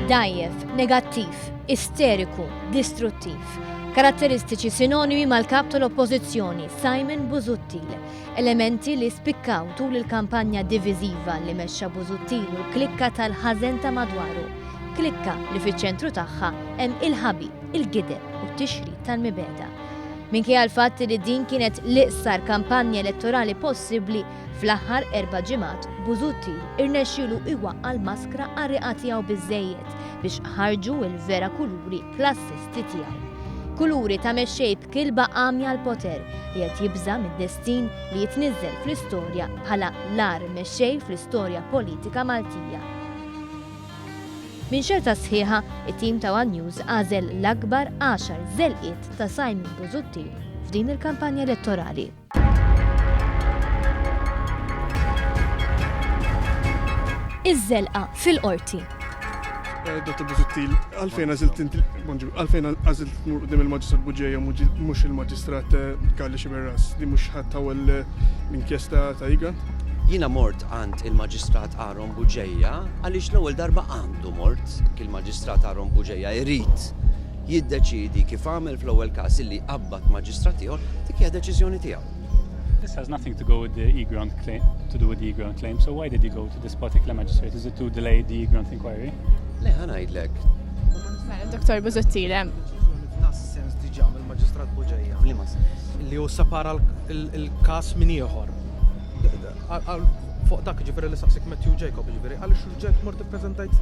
Dajjef, negattiv, isteriku, distruttiv. Karatteristiċi sinonimi mal-kap tal-oppożizzjoni Simon Buzuttil. Elementi li spikkaw tul il-kampanja diviżiva li mexxa Buzuttil u l-klikka tal-ħażen ta' madwaru. Klikka li fiċ-ċentru tagħha hemm il-ħabi, il-gideb u t-tixrid tal-mibeda. Minkejja l-fatt li din kienet l-iqsar kampanja elettorali possibbli, fl-aħħar erba' ġimgħat Busuttil irnexxielu iwaqqa' l-maskra qarriqa tiegħu biżżejjed biex ħarġu l-vera kuluri klassisti tiegħu. Kuluri ta' mexxej b'kilba għamja għall-poter li qed jibża' mid-destin li jitniżżel fl-istorja bħala l-agħar mexxej fl-istorja politika Maltija. Minn xerta sħiħa, it-tim ta' one News għażel l-akbar għaxar żelqiet ta' Simon Busuttil f'din il-kampanja elettorali. Iż-żelqa fil-Qorti. Dottor Busuttil, għalfejn għażilt inti bonġu, għalfejn għażilt tmur qudiem il-Maġistrat Buġeja mhux il-Maġistrat Karli eh, Xiberras li mhux ħadd tawel eh, l-inkjesta ta' Igant? Jiena mort għand il-Maġistrat Ron Bugeja għaliex l-ewwel darba għandu mort, il-Maġistrat Aaron Bugeja jrid jiddeċiedi kif għamel fl-ewwel każ illi jqabbad Maġistrat ieħor, dik hija deċiżjoni tiegħu. This has nothing to go with the e-grant claim, to do with the e-grant claim, so why did he go to this particular magistrate? Is it to delay the e-grant inquiry? Le, ħanajdlek. Mela, Dr. Buzottile. Nas sens diġa mill-Maġistrat Bugeja. Li ma sens. Li u separa il-kas minn ieħor. Fuq dak ġifieri li saqsik Matthew Jacob ġifieri għaliex rġajt mort ippreżentajt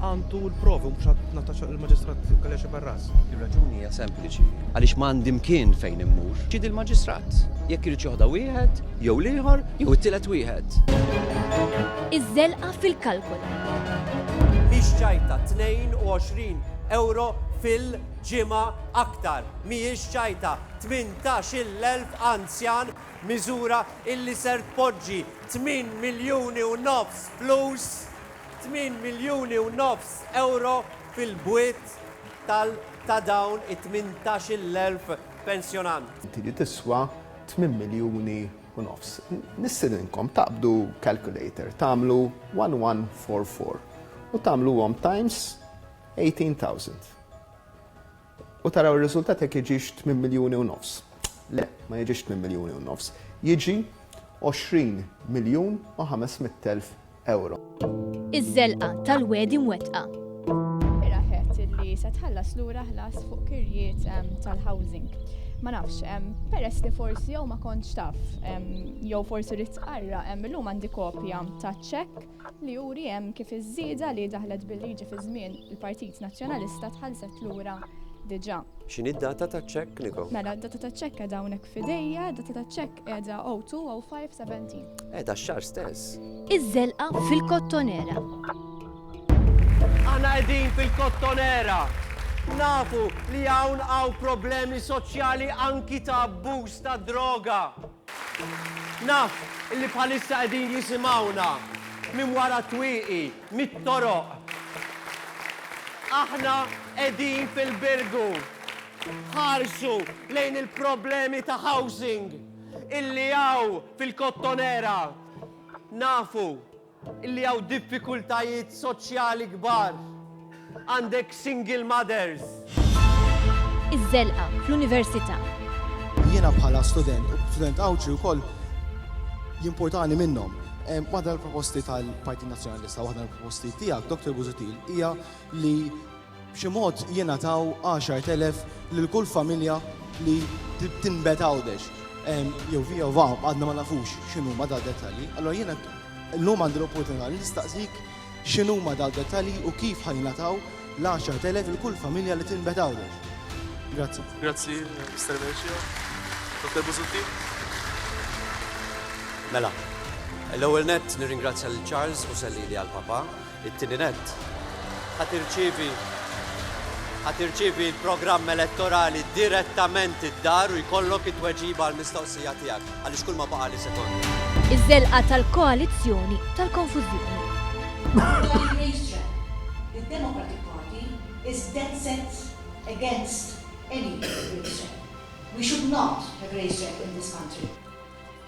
għandu l-provi mhux għad nataċa il-Maġistrat Kaljaxi Barras. Ir-raġuni hija sempliċi għaliex m'għandi mkien fejn immur. Ġid il-Maġistrat jekk irid joħda wieħed jew l-ieħor jew it-tielet wieħed. Iż-żelqa fil-kalkol. Mhix ċajta 22 ewro fil-ġimgħa aktar. Mhijiex ċajta 18-il elf anzjan Miżura illi ser tpoġġi tmien miljuni u nofs flus, tmien miljuni u nofs ewro fil-bwiet tal ta' dawn it-tmintax-il elf pensjonant. Li tiswa tmien miljuni u nofs. Nistiedinkom taqbdu calculator, tagħmlu one one four four u tagħmluhom times eighteen thousand. U taraw ir-riżultat jekk jiġix 8 miljuni u nofs. Le, ma jiġix 8 miljuni u nofs. Jiġi 20 miljun u 500 elf ewro. Iż-żelqa tal-wegħdi mwettqa. Mira għedt li se tħallas lura ħlas fuq kirjiet tal-housing. Ma nafx, peress li forsi jew ma kontx taf jew forsi ridt tqarra, illum għandi kopja taċ-ċekk. li juri hemm kif iż-żieda li daħlet bil-liġi fi żmien il-Partit Nazzjonalista tħallset lura diġà. X'inhi d-data taċ-ċekk, Niko? Mela, d-data taċ-ċekk qiegħda hawnhekk f'idejja, d-data taċ-ċekk qiegħda 020517. Qiegħda x-xahar stess. Iż-żelqa fil-Kottonera. Aħna qegħdin fil-Kottonera. Nafu li hawn hawn problemi soċjali anki ta' abbuż tad-droga. Naf li bħalissa qegħdin jisimgħuna minn wara t-twieqi, mit-toroq. Aħna qegħdin fil-Birgu. Ħarsu lejn il-problemi ta' housing illi hawn fil-Kottonera. Nafu li hawn diffikultajiet soċjali kbar. Għandek single mothers. Iż-żelqa fl-università. Jiena bħala student, u student Għawdxi wkoll jimpurtani minnhom. Waħda l-proposti tal-Partit Nazzjonalista, waħda l-proposti tiegħek, Dr. Buzutil, hija li B'xi mod jingħataw 10,000 lil kull familja li tinbet Għawdex. Jew via jew va, għadna ma nafux x'inhuma dawn id-dettalji. Allura jiena llum għandi l-opportunità li nistaqsik x'inhuma dawn id-dettalji u kif ħa jingħataw l-10,000 lil kull familja li tinbet Għawdex. Grazzi. Grazzi, Mister Mercio. Dottor Busuttil? Mela, l-ewwel nett nirringrazzja lil Charles Busellili għall-papà It-tieni nett, ħa tirċievi ħa tirċievi l-programm elettorali direttament id-dar u jkollok it-tweġiba għall-mistoqsija tiegħek, għaliex kulma baqgħali sekonda. Iż-żelqa tal-koalizzjoni tal-konfużjoni. F'dan ir-racetrack, id-Democratic Party is dead set against any racetrack. We should not have racetrack in this country.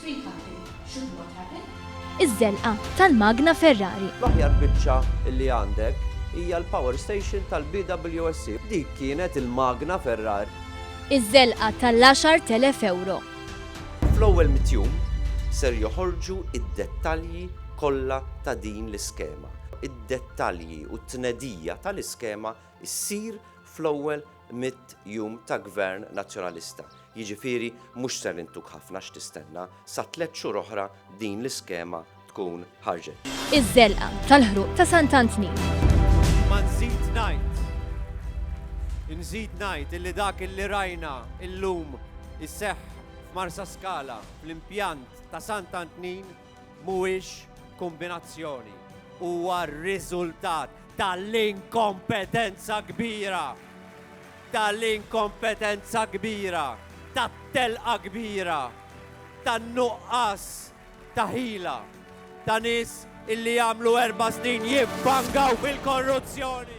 Sweet cutting should not happen. Iż-żelqa tal-magna Ferrari. L-aħjar biċċa li għandek hija l-power station tal-BWSC. Dik kienet il-magna Ferrari. Iż-żelqa tal-10,000 ewro. Fl-ewwel mitt jum ser joħorġu d-dettalji kollha ta' din l-iskema. Id-dettalji u t-tnedija tal-iskema ssir fl-ewwel mitt jum ta' Gvern Nazzjonalista. Jiġifieri mhux ser intuk ħafna x'tistenna, sa tliet xhur oħra din l-iskema tkun ħarġet. Iż-żelqa tal-ħruq ta' Sant Antnin. Imma nżid ngħid, inżid ngħid illi dak illi rajna illum iseħħ f'Marsaskala fl-impjant ta' Sant Antnin Mhuwiex kombinazzjoni, huwa r-riżultat tal-inkompetenza kbira, tal-inkompetenza kbira, tat-telqa kbira, tan-nuqqas ta' ħila ta' nies illi għamlu erba' snin jiffangaw fil-korruzzjoni.